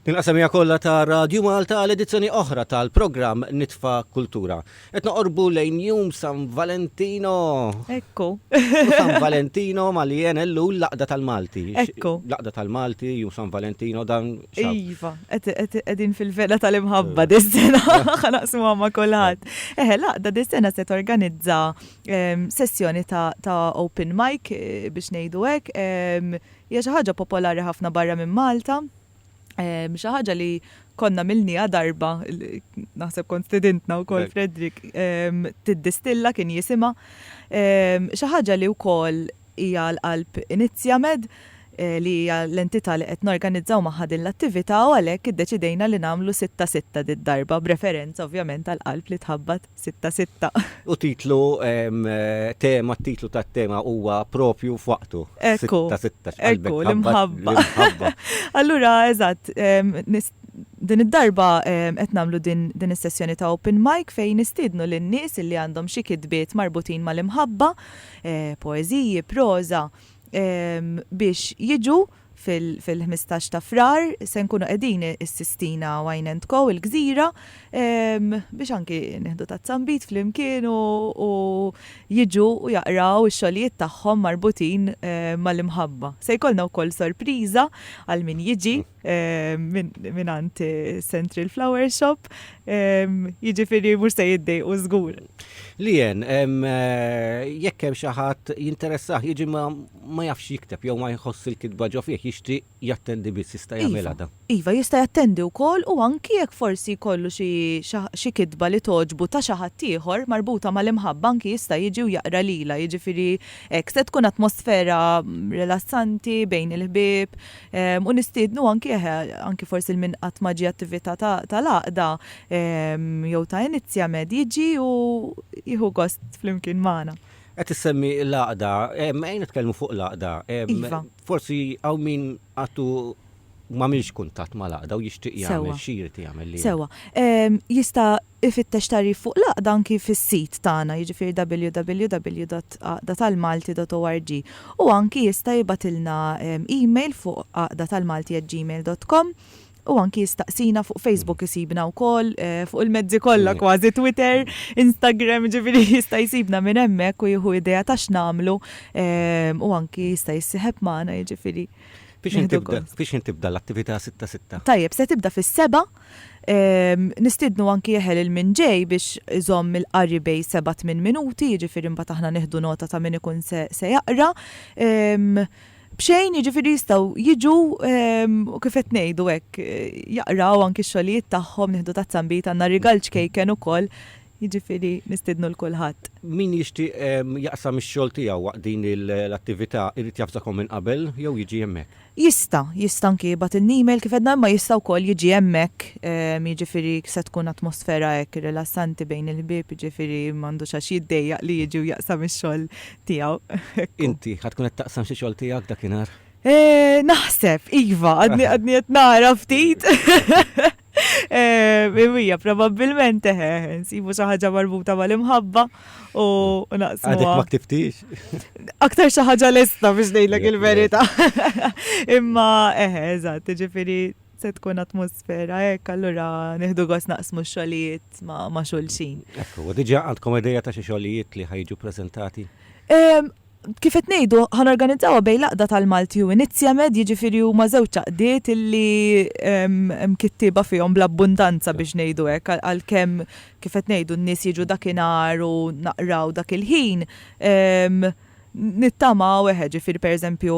Nilqa' semiegħa kollha ta' Radju Malta għal edizzjoni oħra tal-programm Nitfa' Kultura. Qed noqorbu lejn jum San Valentino! Ekku! U San Valentino malien Ellul l-għaqda tal-Malti. Ekku! L-għaqda tal-Malti, jum San Valentino, dan x'ha? Iva, qegħdin fil-vela tal-imħabba dis-sena, ħa naqsmuha ma' kulħadd. Eħe, l-għaqda dis-sena se torganizza sessjoni ta' open mic, biex ngħidu hekk, hija xi ħaġa popolari ħafna barra minn Malta, xi ħaġa li konna milnija darba, naħseb kont stedintna u kol Fredrik, tiddistilla kien jisima, xi ħaġa li u kol hija l-qalb inizjamed eh, li hija l-entità li qed norganizzaw magħha din l-attività u għalhekk iddeċidejna li nagħmlu sitta sitta did-darba b'referenza ovvjament għal qalb li tħabbat Sitta sitta. U titlu, tema, t-titlu tat-tema huwa proprju f'waqtu. Ekku. Sitta sitta. Ekku, l-imħabba. L-imħabba. Allura, eżatt, din id-darba qed nagħmlu din is-sessjoni ta' open mic fejn nistiednu lin-nies li għandhom xi kitbiet marbutin mal-imħabba, poeżiji, proża, biex jiġu fil-ħmistax ta' Frar se nkunu qegħdin is-Sistina Wine and Co il-Gżira biex anki nieħdu ta' zambit flimkien u jiġu u jaqraw ix-xogħlijiet tagħhom marbutin mal-imħabba. Se jkollna wkoll sorpriża għal min jiġi mingħand Central Flower Shop, jiġifieri mhux se jiddejqu żgur. Lien, jekk hemm xi ħadd jinteressah jiġi ma' ma jafx jikteb jew ma jħoss il-kitba ġo fih, jixtri jattendi biss, jista' jagħmilha dan? Iva, iva, jista' jattendi wkoll u anki jekk forsi jkollu xi xi kitba li togħġbu ta' xi ħadd ieħor marbuta mal-imħabba anki jista' jiġi u jaqra lilha, jiġifieri hekk. Se tkun atmosfera rilassanti bejn il-ħbieb u nistiednu anki eħe anki forsi 'l min qatt ma ġie attività tal-għaqda jew ta' inizjamed jiġi u jieħu gost flimkien magħna. Qed issemmi l-għaqda, ejja nitkellmu fuq l-għaqda. Iva. Forsi hawn min għadu m'għamilx kuntatt mal-għaqda u jixtieq jagħmel, xi jrid jagħmel li. Sewwa. Jista' jfittex tagħrif fuq l-għaqda anki fis-sit tagħna, jiġifieri www.għaqdatalmalti.org. U anki jista' jibgħatilna email fuq għaqdatalmalti@gmail.com u anki jistaqsina fuq Facebook isibna wkoll eh, fuq il-mezzi kollha mm. kważi Twitter, Instagram, ġifieri jista' jsibna minn hemmhekk u jieħu idea ta' x'namlu eh, u anki jista' jissieħeb magħna jiġifieri. Biex intibda l-attività 6-6? Tajjeb, se tibda fis-seba' Ehm, nistidnu anki jeħel il-min ġej biex iżomm il-qari bej 7-8 minuti, ġifir imbagħad aħna nieħdu nota ta' min ikun se jaqra. Ehm, B'xejn, jiġifieri jistgħu jiġu u kif qed ngħidu hekk, jaqraw anki x-xogħlijiet tagħhom, nieħdu tazza nbid, għandna rigal ċkejken ukoll, jiġifieri nistiednu 'l kulħadd. Min jixtieq jaqsam ix-xogħol tiegħu waqt din l-attività jrid jafzakom minn qabel jew jiġi hemmhekk? Jista', jista' anki jibgħatilna email kif għedna imma jista' wkoll jiġi hemmhekk, jiġifieri se tkun atmosfera hekk rilassanti bejn il-ħbieb, jiġifieri m'għandux għax jiddejjaq li jiġi u jaqsam ix-xogħol tiegħu. Inti ħad tkun qed taqsam xi xogħol tiegħek dakinhar? Eh, naħseb, iva, għadni għadni qed nara ftit. Eh, Imija, probabbilment eħe, eh, nsibu xi ħaġa marbuta mal-imħabba u naqsmu. Għadek ma ktiftix. Aktar xi ħaġa lesta biex ngħidlek il-verità. Imma eħe, eżatt, ġifieri Se tkun atmosfera hekk, allura nieħdu gost naqsmu x-xogħlijiet ma' xulxin. Hekk hu. Diġà għandkom idea ta' xi xogħlijiet li ħa jiġu ppreżentati? Kif qed ngħidu, ħa norganizzawha bejn l-għaqda tal-Malti u Inizjamed, jiġifieri huma żewġ għaqdiet li hemm kittieba fihom bl-abbundanza biex ngħidu hekk, għalkemm kif qed ngħidu n-nies jiġu dakinhar u naqraw dak il-ħin, Nittamaw, eħe, ġifieri pereżempju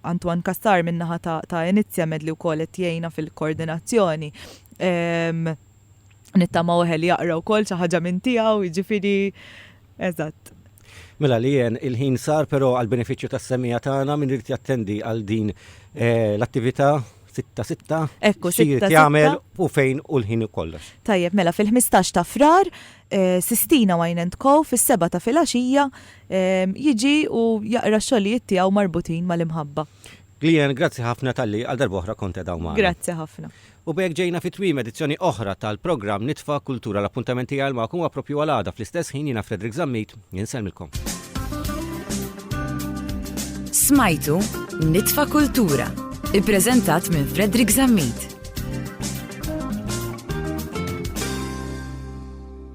Antoine Cassar min-naħa ta' Iniziamed li wkoll qed jgħinna fil-koordinazzjoni, nittamaw eħe li jaqra wkoll xi ħaġa minn tiegħu, jiġifieri, eżatt. Mela Leanne, il-ħin sar però għall-benefiċċju tas-semgħa tagħna min irid jattendi għal din l-attività sitta sitta, xi jrid jagħmel u fejn u l-ħin u kollox. Tajjeb, mela fil-ħmistax ta' Frar, Sistina Wine and Co fis-sebgħa ta' filgħaxija jiġi u jaqra x-xogħlijiet tiegħu marbutin mal-imħabba. Gleeanne, grazzi ħafna talli għal darba oħra kont qegħda hawn magħna. Grazzi ħafna. U b'hekk ġejna fi tmiem edizzjoni oħra tal-programm Nitfa' Kultura. L-appuntament tiegħi għal magħkom huwa proprju għal għada fl-istess ħin jiena Frederick Zammit insellmilkom. Smajtu Nitfa' Kultura, ippreżentat minn Frederick Zammit.